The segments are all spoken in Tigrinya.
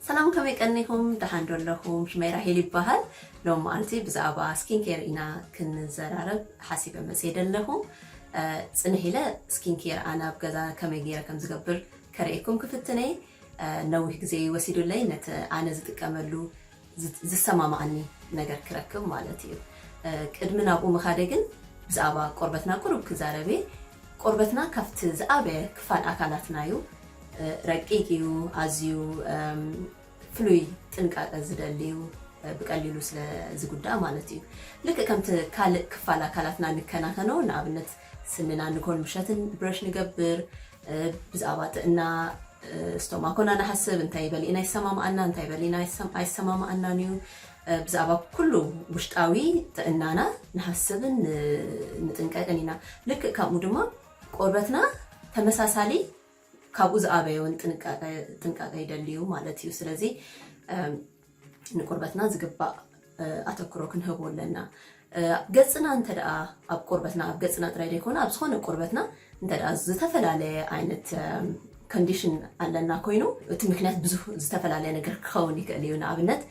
ሰላም ከመይ ቀኒኹም ደሓን ዶ ኣለኹም ሽመይ ራሄል ይበሃል ሎም መዓልቲ ብዛዕባ ስኪን ኬር ኢና ክንዘራረብ ሓሲበ መፅየ ደለኹ ፅንሕ ኢለ ስኪን ኬር ኣነ ኣብ ገዛ ከመይ ገይረ ከም ዝገብር ከርእየኩም ክፍትን እየ ነዊሕ ግዜ እዩ ወሲዱለይ ነቲ ኣነ ዝጥቀመሉ ዝሰማማኣኒ ነገር ክረክብ ማለት እዩ ቅድሚ ናብኡ ምኻደ ግን ብዛዕባ ቆርበትና ቁሩብ ክዛረብ እየ ቆርበትና ካብቲ ዝኣበየ ክፋል ኣካላትና እዩ ረቂቅ እዩ ኣዝዩ ፍሉይ ጥንቃቀ ዝደሊ እዩ ብቀሊሉ ስለ ዝጉዳእ ማለት እዩ ልክእ ከምቲ ካልእ ክፋል ኣካላትና ንከናኸኖ ንኣብነት ስንና ንኮል ምሸትን ብረሽ ንገብር ብዛእባ ጥእና ስቶማኮ እና ንሓስብ እንታይ በሊእና ይሰማምኣና እንታይ በሊና ኣይሰማምኣናን እዩ ብዛእባ ኩሉ ውሽጣዊ ጥእናና ንሓስብን ንጥንቀቅን ኢና ልክእ ከምኡ ድማ ቆርበትና ተመሳሳሊ ካብኡ ዝኣበየውን ጥንቃቀ ይደልዩ ማለት እዩ ስለዚ ንቁርበትና ዝግባእ ኣተኩሮ ክንህቡ ኣለና ገጽና እንተ ኣብ ቁርበትና ኣብ ገጽና ጥራይ ደይኮነ ኣብ ዝኾነ ቁርበትና እንተ ዝተፈላለየ ዓይነት ኮንዲሽን ኣለና ኮይኑ እቲ ምክንያት ብዙ ዝተፈላለየ ነገር ክኸውን ይክእል እዩ ንኣብነት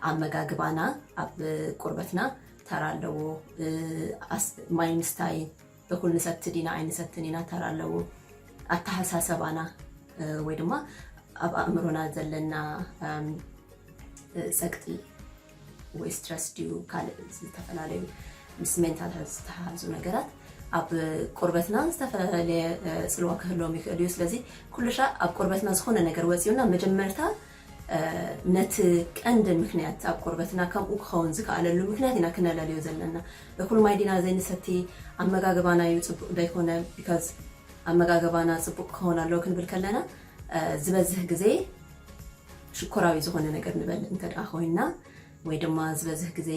ኣመጋግባና ኣብ ቁርበትና ተራ ኣለዎ ማይምስታይ እኹል ንሰቲ ዲና ኣይንሰትን ኢና ተራ ኣለዎ። ኣተሓሳሰባና ወይ ድማ ኣብ ኣእምሮና ዘለና ጸቅጢ ወይ ስትረስ ድዩ ካልእ ዝተፈላለዩ ምስ ሜንታል ሄልዝ ዝተሓሓዙ ነገራት ኣብ ቆርበትና ዝተፈላለየ ጽልዋ ክህልዎም ይኽእል እዩ። ስለዚ ኩልሻዕ ኣብ ቆርበትና ዝኾነ ነገር ወጺኡና መጀመርታ ነቲ ቀንዲ ምክንያት ኣብ ቆርበትና ከምኡ ክኸውን ዝከኣለሉ ምክንያት ኢና ክነለልዮ ዘለና። እኹል ማይ ዲና ዘይንሰቲ? ኣመጋግባና እዩ ጽቡቕ ዘይኮነ? because ኣመጋግባና ጽቡቕ ክኸውን ኣለዎ ክንብል ከለና ዝበዝህ ግዜ ሽኮራዊ ዝኾነ ነገር ንበልዕ እንተ ደኣ ኮይንና ወይ ድማ ዝበዝህ ግዜ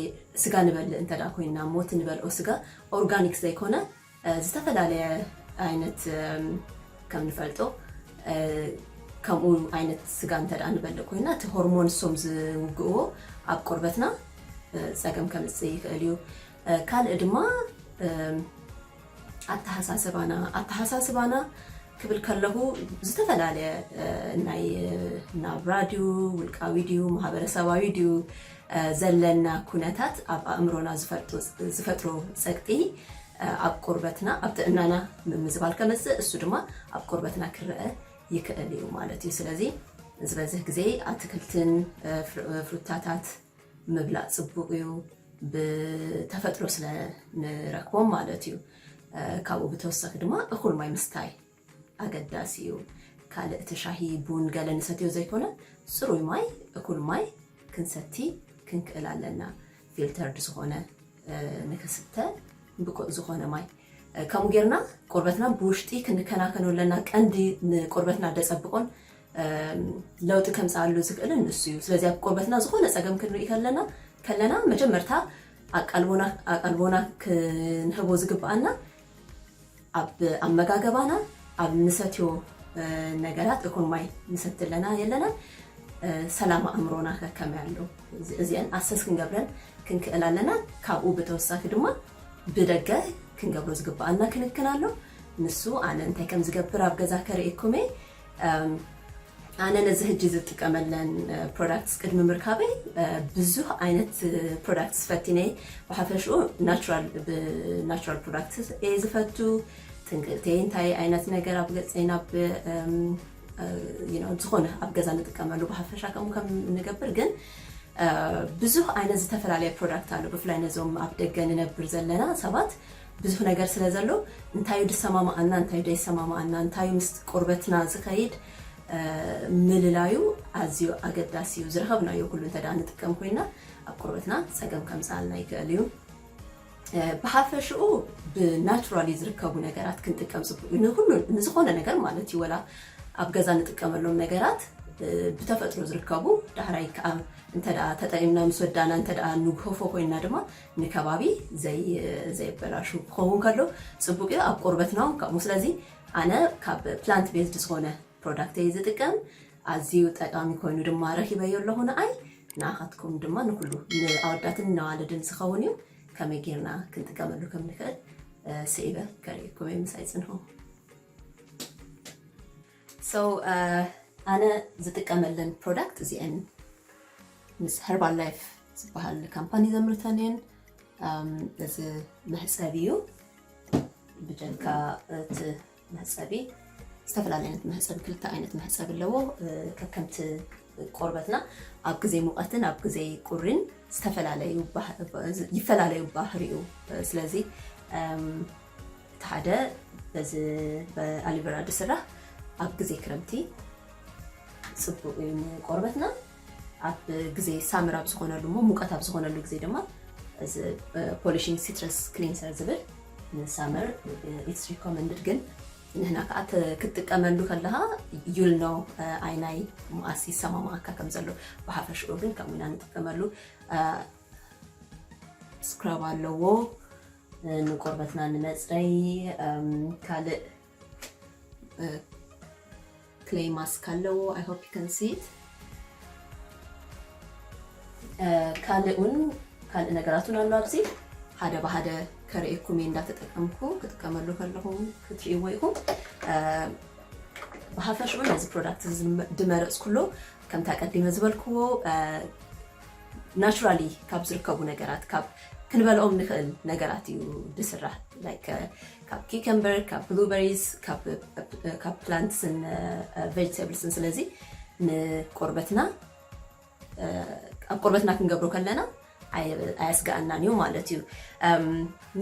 ስጋ ንበልዕ እንተ ደኣ ኮይንና እሞ እቲ ንበልዖ ስጋ organic ዘይኮነ ዝተፈላለየ ዓይነት ከም ንፈልጦ ከምኡ ዓይነት ስጋ እንተ ንበልዕ ኮይና እቲ ሆርሞን እሶም ዝውግእዎ ኣብ ቆርበትና ፀገም ከምፅእ ይኽእል እዩ። ካልእ ድማ ኣተሓሳስባና ኣተሓሳስባና ክብል ከለኹ ዝተፈላለየ ናይ ናብራ ድዩ ውልቃዊ ድዩ ማህበረሰባዊ ድዩ ዘለና ኩነታት ኣብ ኣእምሮና ዝፈጥሮ ጸቅጢ ኣብ ቁርበትና ኣብ ጥዕናና ምምዝባል ከምጽእ እሱ ድማ ኣብ ቁርበትና ክረአ ይክእል እዩ ማለት እዩ ስለዚ ዝበዝህ ግዜ ኣትክልትን ፍሩታታት ምብላእ ጽቡቅ እዩ ብተፈጥሮ ስለ ንረክቦም ማለት እዩ ካብኡ ብተወሳኪ ድማ እኩል ማይ ምስታይ ኣገዳሲ እዩ። ካልእ እቲ ሻሂ፣ ቡን ገለ ንሰትዮ ዘይኮነ ጽሩይ ማይ፣ እኩል ማይ ክንሰቲ ክንክእል ኣለና። ፊልተርድ ዝኾነ ንክስተ ብቁእ ዝኾነ ማይ ከምኡ ጌርና ቁርበትና ብውሽጢ ክንከናከኖ ኣለና። ቀንዲ ንቁርበትና ደጸብቆን ለውጢ ከምጽኣሉ ዝክእልን ንሱ እዩ። ስለዚ ኣብ ቁርበትና ዝኾነ ጸገም ክንርኢ ከለና ከለና መጀመርታ ኣቃልቦና ኣቃልቦና ክንህቦ ዝግብኣና ኣብ ኣመጋገባና ኣብ ንሰትዮ ነገራት እኩል ማይ ንሰቲ ኣለና የለናን ሰላም ኣእምሮና ከከመይ ኣሎ እዚኤን ኣሰስ ክንገብረን ክንክእል ኣለና ካብኡ ብተወሳኪ ድማ ብደገ ክንገብሮ ዝግበኣና ክንክን ኣሎ ንሱ ኣነ እንታይ ከምዝገብር ኣብ ገዛ ከርእየኩም እየ። ኣነ ነዚ ህጂ ዝጥቀመለን ፕሮዳክትስ ቅድሚ ምርካበይ ብዙህ ዓይነት ፕሮዳክትስ ፈቲነይ ብሓፈሽኡ ናቹራል ብናቹራል ፕሮዳክትስ እየ ዝፈቱ ትንክእተይ እንታይ ዓይነት ነገር ኣብ ገፀይ ናብ ዝኾነ ኣብ ገዛ ንጥቀመሉ ብሓፈሻ ከምኡ ከም ንገብር ግን ብዙህ ዓይነት ዝተፈላለየ ፕሮዳክት ኣሎ ብፍላይ ነዞም ኣብ ደገ ንነብር ዘለና ሰባት ብዙሕ ነገር ስለ ዘሎ እንታዩ ድሰማማኣና እንታዩ ደይሰማማኣና እንታዩ ምስ ቁርበትና ዝኸይድ ምልላዩ ኣዝዩ ኣገዳሲ እዩ ዝረኸብናዮ ኩሉ እንተ ንጥቀም ኮይና ኣብ ቁርበትና ጸገም ከምጽኣልና ይክእል እዩ ብሓፈሽኡ ብናቹራሊ ዝርከቡ ነገራት ክንጥቀም ፅቡቅ እዩ ንኩሉ ንዝኾነ ነገር ማለት እዩ ወላ ኣብ ገዛ ንጥቀመሎም ነገራት ብተፈጥሮ ዝርከቡ ዳሕራይ ከዓ እንተ ተጠቂምና ምስ ወዳእና እንተ ንጉሆፎ ኮይና ድማ ንከባቢ ዘየበላሹ ክኸውን ከሎ ፅቡቅ እዩ ኣብ ቆርበትና እውን ከምኡ ስለዚ ኣነ ካብ ፕላንት ቤዝድ ዝኾነ ፕሮዳክት እየ ዝጥቀም ኣዝዩ ጠቃሚ ኮይኑ ድማ ረኪበዮ ኣለኹ ንኣይ ንኣኻትኩም ድማ ንኩሉ ንኣወዳትን ነዋልድን ዝኸውን እዩ ከመይ ጌርና ክንጥቀመሉ ከም ንኽእል ስዒበ ከርእየኩም እየ ምሳይ ፅንሑ So ኣነ ዝጥቀመለን ፕሮዳክት እዚኤን እየን። ምስ ሀርባል ላይፍ ዝበሃል ካምፓኒ ዘምርተን እየን። እዚ መሕፀቢ እዩ። ብጀካ እቲ መሕፀቢ ዝተፈላለዩ ዓይነት መሕፀቢ ክልተ ዓይነት መሕፀቢ ኣለዎ ከከምቲ ቆርበትና ኣብ ግዜ ሙቐትን ኣብ ግዜ ቁሪን ዝተፈላለዩ ይፈላለዩ ባህሪኡ ስለዚ እቲ ሓደ በዚ ብኣሊቨራ ዝስራሕ ኣብ ግዜ ክረምቲ ፅቡቅ እዩ ንቆርበትና ኣብ ግዜ ሳምር ኣብ ዝኾነሉ እሞ ሙቀት ኣብ ዝኾነሉ ግዜ ድማ እዚ ፖሊሽንግ ሲትረስ ክሊንሰር ዝብል ንሳምር ኢትስ ሪኮመንድድ ግን ንሕና ከኣ እቲ ክትጥቀመሉ ከለኻ you'll know ኣይናይ መኣስ ይሰማማኣካ ከም ዘሎ ብሓፈሽኡ ግን ከምኡ ኢና ንጥቀመሉ። ስክራብ ኣለዎ ንቆርበትና ንመጽረይ ካልእ ክሌይ ማስክ ኣለዎ i hope you can see it ካልእ ውን ካልእ ነገራት ውን ኣሎ ኣብዚ ሓደ ብሃደ ከርእየኩም እየ እንዳተጠቀምኩ ክጥቀመሉ ከለኹ ክትርእይዎ ኢኹም ብሃፈሽኡ ነዚ ፕሮዳክት ድመረፅኩሉ ከምቲ ኣቀዲመ ዝበልክዎ ናቹራሊ ካብ ዝርከቡ ነገራት ካብ ክንበልኦም ንክእል ነገራት እዩ ድስራሕ ካብ ኪከምበር ካብ ብሉበሪስ ካብ ፕላንትስን ቨጅተብልስን ስለዚ ንቆርበትና ኣብ ቆርበትና ክንገብሮ ከለና ኣየስጋኣናን እዩ ማለት እዩ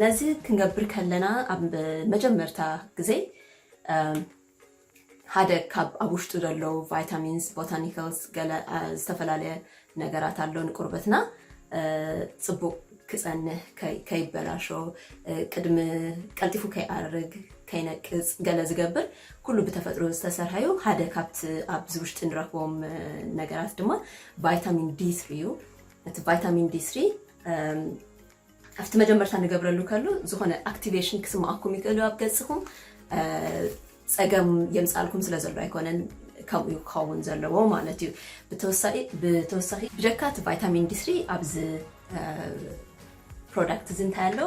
ነዚ ክንገብር ከለና ኣብ መጀመርታ ግዜ ሓደ ካብ ኣብ ውሽጡ ዘለዉ ቫይታሚንስ ቦታኒካልስ ገለ ዝተፈላለየ ነገራት ኣሎ ንቁርበትና ጽቡቅ ክጸንህ ከይበላሾ ቅድሚ ቀልጢፉ ከይኣርግ ከይነቅጽ ገለ ዝገብር ኩሉ ብተፈጥሮ ዝተሰርሐ እዩ ሓደ ካብቲ ኣብዚ ውሽጢ ንረክቦም ነገራት ድማ ቫይታሚን ዲ3 እዩ እቲ ቫይታሚን ዲ3 ኣብቲ መጀመርታ ንገብረሉ ከሉ ዝኾነ ኣክቲቬሽን ክስምዓኩም ይክእልዩ ኣብ ገጽኹም ጸገም የምጽኣልኩም ስለ ዘሎ ኣይኮነን ከምኡ እዩ ክኸውን ዘለዎ ማለት እዩ ብተወሳኺ ብጀካ እቲ ቫይታሚን ዲስሪ ኣብዚ ፕሮዳክት እዚ እንታይ ኣሎ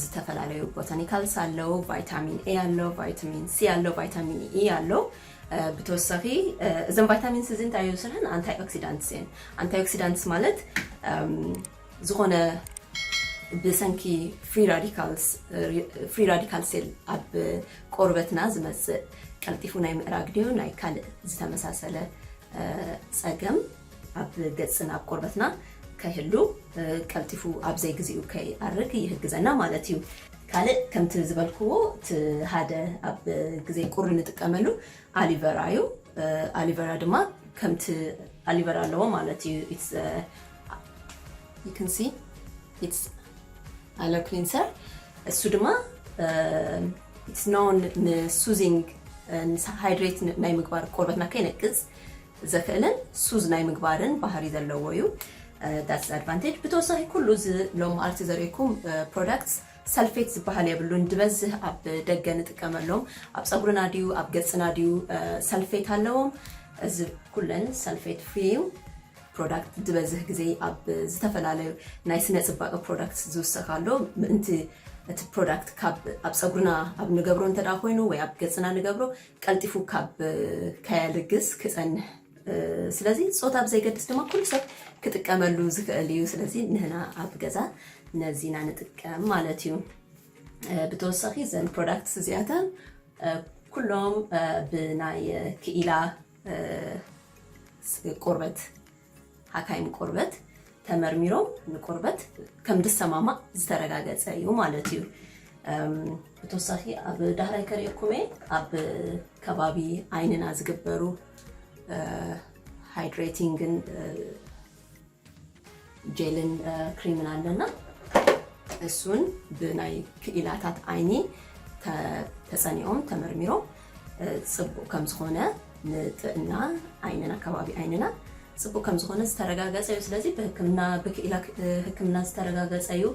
ዝተፈላለዩ ቦታኒካልስ ኣለው ቫይታሚን ኤ ኣሎ ቫይታሚን ሲ ኣሎ ቫይታሚን ኢ ኣሎ ብተወሳኺ እዘም ቫይታሚንስ እዚ እንታይ የውስርሐን ኣንታይ ኦክሲዳንትስ እየን ኣንታይ ኦክሲዳንትስ ማለት ዝኾነ ብሰንኪ ፍሪ ራዲካል ሴል ኣብ ቆርበትና ዝመፅእ ቀልጢፉ ናይ ምእራግ ድዮ ናይ ካልእ ዝተመሳሰለ ፀገም ኣብ ገፅና ኣብ ቆርበትና ከይህሉ ቀልጢፉ ኣብ ዘይግዚኡ ከይኣርግ ይህግዘና ማለት እዩ። ካልእ ከምቲ ዝበልክዎ እቲ ሓደ ኣብ ግዜ ቁሪ ንጥቀመሉ ኣሊቨራ እዩ። ኣሊቨራ ድማ ከምቲ ኣሊቨራ ኣለዎ ማለት እዩ you can see it's alo cleanser እሱ ድማ it's known ንሱዚንግ ንሃይድሬት ናይ ምግባር ቆርበትና ከይነቅፅ ዘኽእልን ሱዝ ናይ ምግባርን ባህሪ ዘለዎ እዩ ዳትስ ኣድቫንቴጅ ብተወሳኺ ኩሉ እዚ ሎም ኣርቲ ዘርእኩም ፕሮዳክት ሰልፌት ዝበሃል የብሉን ድበዝህ ኣብ ደገ ንጥቀመሎም ኣብ ፀጉርና ድዩ ኣብ ገፅና ድዩ ሰልፌት ኣለዎም እዚ ኩለን ሰልፌት ፍሪ እዩ ፕሮዳክት ዝበዝሕ ግዜ ኣብ ዝተፈላለዩ ናይ ስነ ፅባቀ ፕሮዳክት ዝውሰክ ኣሎ ምእንቲ እቲ ፕሮዳክት ካብ ኣብ ፀጉርና ኣብ ንገብሮ እንተ ኮይኑ ወይ ኣብ ገፅና ንገብሮ ቀልጢፉ ካብ ከየልግስ ክፀንሕ ስለዚ ፆታ ብዘይገድስ ድማ ኩሉ ሰብ ክጥቀመሉ ዝኽእል እዩ ስለዚ ንህና ኣብ ገዛ ነዚ ኢና ንጥቀም ማለት እዩ ብተወሳኺ ዘን ፕሮዳክትስ እዚኣተን ኩሎም ብናይ ክኢላ ቁርበት ሓካይም ቁርበት ተመርሚሮም ንቁርበት ከም ዝሰማማዕ ዝተረጋገፀ እዩ ማለት እዩ ብተወሳኺ ኣብ ዳህራይ ከሪኤኩም እየ ኣብ ከባቢ ዓይንና ዝግበሩ ሃይድሬቲንግን ጀልን ክሪምን ኣለና እሱን ብናይ ክኢላታት ዓይኒ ተፀኒኦም ተመርሚሮም ፅቡቅ ከምዝኾነ ንጥዕና ዓይንና ከባቢ ዓይንና ፅቡቅ ከምዝኾነ ዝተረጋገፀ እዩ ስለዚ ብህክምና ብክኢላ ህክምና ዝተረጋገፀ እዩ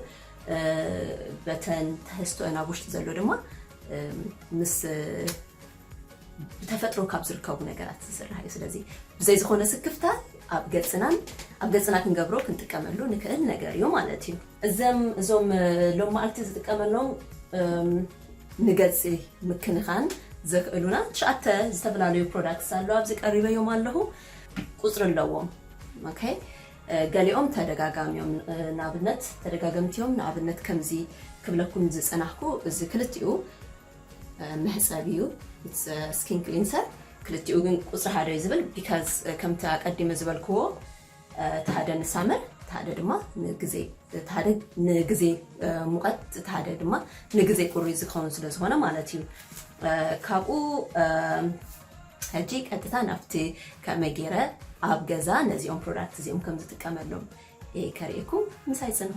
በተን ተህስቶአን ኣብ ውሽጢ ዘሎ ድማ ምስ ብተፈጥሮ ካብ ዝርከቡ ነገራት ዝስራሕ እዩ። ስለዚ ብዘይ ዝኾነ ስክፍታ ኣብ ገጽናን ኣብ ገጽና ክንገብሮ ክንጥቀመሉ ንክእል ነገር እዩ ማለት እዩ። እዘም እዞም ሎም መዓልቲ ዝጥቀመሎም ንገጽ ምክንኻን ዘክእሉና ትሽዓተ ዝተፈላለዩ ፕሮዳክትስ ኣለዉ። ኣብዚ ቀሪበዮም ኣለኹ። ቁጽሪ ኣለዎም። ኦኬ ገሊኦም ተደጋጋሚ እዮም። ንኣብነት ተደጋገምቲ እዮም። ንኣብነት ከምዚ ክብለኩም ዝጸናሕኩ እዚ ክልቲኡ መሕጸቢ እዩ ኢትስ ስኪን ክሊንሰር ክልቲኡ ግን ቁፅሪ ሓደ እዩ ዝብል ቢካዝ ከምቲ ኣቀዲመ ዝበልክዎ እቲ ሓደ ንሳመር እቲ ሓደ ድማ ንግዜ እቲ ሓደ ንግዜ ሙቐት እቲ ሓደ ድማ ንግዜ ቁሪ ዝኸውን ስለ ዝኾነ ማለት እዩ ካብኡ ሕጂ ቀጥታ ናብቲ ከመይ ገይረ ኣብ ገዛ ነዚኦም ፕሮዳክት እዚኦም ከም ዝጥቀመሎም ከርእየኩም ምሳይ ፅንሁ